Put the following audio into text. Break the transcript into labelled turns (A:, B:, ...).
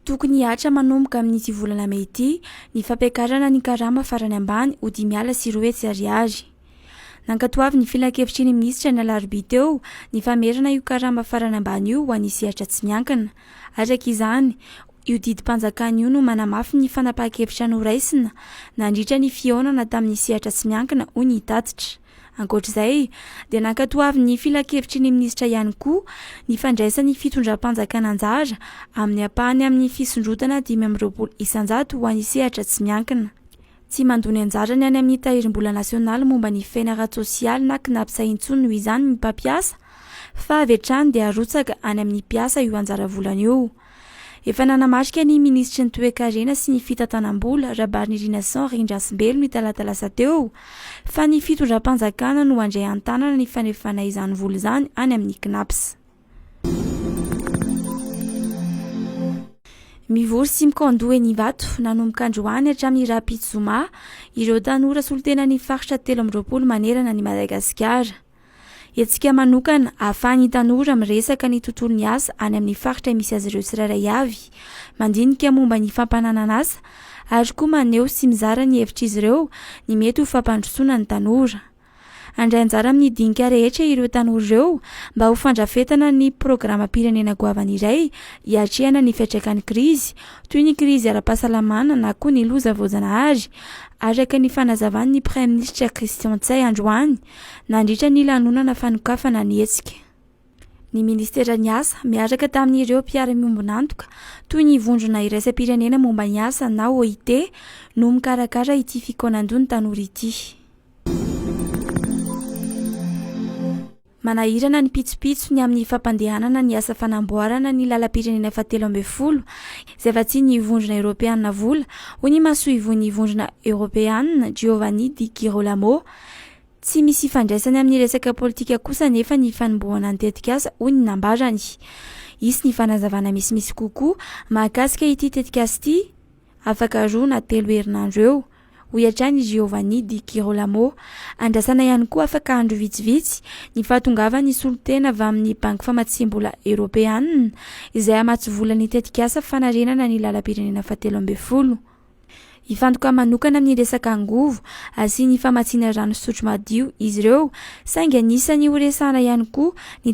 A: Tokony hihatra manomboka amin'ity volana mey ity ny fampiakarana ny karama farany ambany ho dimy ala sy roa hetsy ariary. Nankatoavin'ny filankevitry ny minisitra ny alarobia teo ny famerana io karama farany ambany io ho an'ny sehatra tsy miankina. Araka izany, io didim-panjakana io no manamafy ny fanapahan-kevitra noraisina nandritra ny fihaonana tamin'ny sehatra tsy miankina, hoy ny tatitra. Ankoatra izay dia nankatoavin'ny filankevitry ny minisitra ihany koa ny fandraisan'ny fitondram-panjakana anjara amin'ny ampahany amin'ny fisondrotana dimy amby roapolo isanjato ho an'ny sehatra tsy miankina. Tsy mandoa ny anjarany any amin'ny Tahirimbola Nasionaly momba ny Fiainana Ara-tsosialy na Cnaps intsony noho izany ny mpampiasa fa avy hatrany dia arotsaka any amin'ny mpiasa io anjara volany io. Efa nanamarika ny minisitry ny Toekarena sy ny fitantanam-bola, Rabarinirina Jean Rindrasimbelo ny talata lasa teo, fa ny fitondram-panjakana no handray an-tanana ny fanefana izany vola izany any amin'ny Cnaps. Mivory sy mikandoha eny Ivato, nanomboka androany hatramin'ny rahampitso zoma, ireo tanora solontenan'ny faritra telo amby roapolo manerana an'i Madagasikara. Hetsika manokana ahafahan'ny tanora miresaka ny tontolon'ny asa any amin'ny faritra misy azy ireo tsirairay avy, mandinika momba ny fampananan'asa ary koa maneho sy mizara ny hevitr'izy ireo ny mety ho fampandrosoana ny tanora. Handray anjara amin'ny dinika rehetra ireo tanora ireo mba ho fandrafetana ny programam-pirenena goavana iray hiatrehana ny fiantraikan'ny krizy, toy ny krizy ara-pahasalamana na koa ny loza voajanahary, araka ny fanazavan'ny Praiminisitra Christian Ntsay androany. Nandritra ny lanonana fanokafana ny hetsika, ny Ministeran'ny Asa, miaraka tamin'ireo mpiara-miombon'antoka, toy ny Vondrona Iraisam-pirenena momba ny Asa na OIT, no mikarakara ity fikaonandoha ny tanora ity. Manahirana ny pitsopitso ny amin'ny fampandehanana ny asa fanamboarana ny lalam-pirenena fahatelo ambin'ny folo, izay vatsian'ny Vondrona Eoropeana vola, hoy ny masoivohon'ny Vondrona Eoropeana, Giovanni Di Girolamo. Tsy misy ifandraisany amin'ny resaka politika kosa anefa ny fanombohana ny tetikasa, hoy ny nambarany. Hisy ny fanazavana misimisy kokoa mahakasika ity tetikasa ity afaka roa na telo herinandro eo, hoy hatrany i Giovanni Di Girolamo. Andrasana ihany koa afaka andro vitsivitsy ny fahatongavan'ny solontena avy amin'ny Banky Famatsiam-bola Eoropeanina izay hamatsy vola ny tetikasa fanarenana ny lalam-pirenena fahatelo ambin'ny folo. Hifantoka manokana amin'ny resaka angovo, asiany famatsiana rano fisotro madio izy ireo, saingy anisany horesahana ihany koa ny.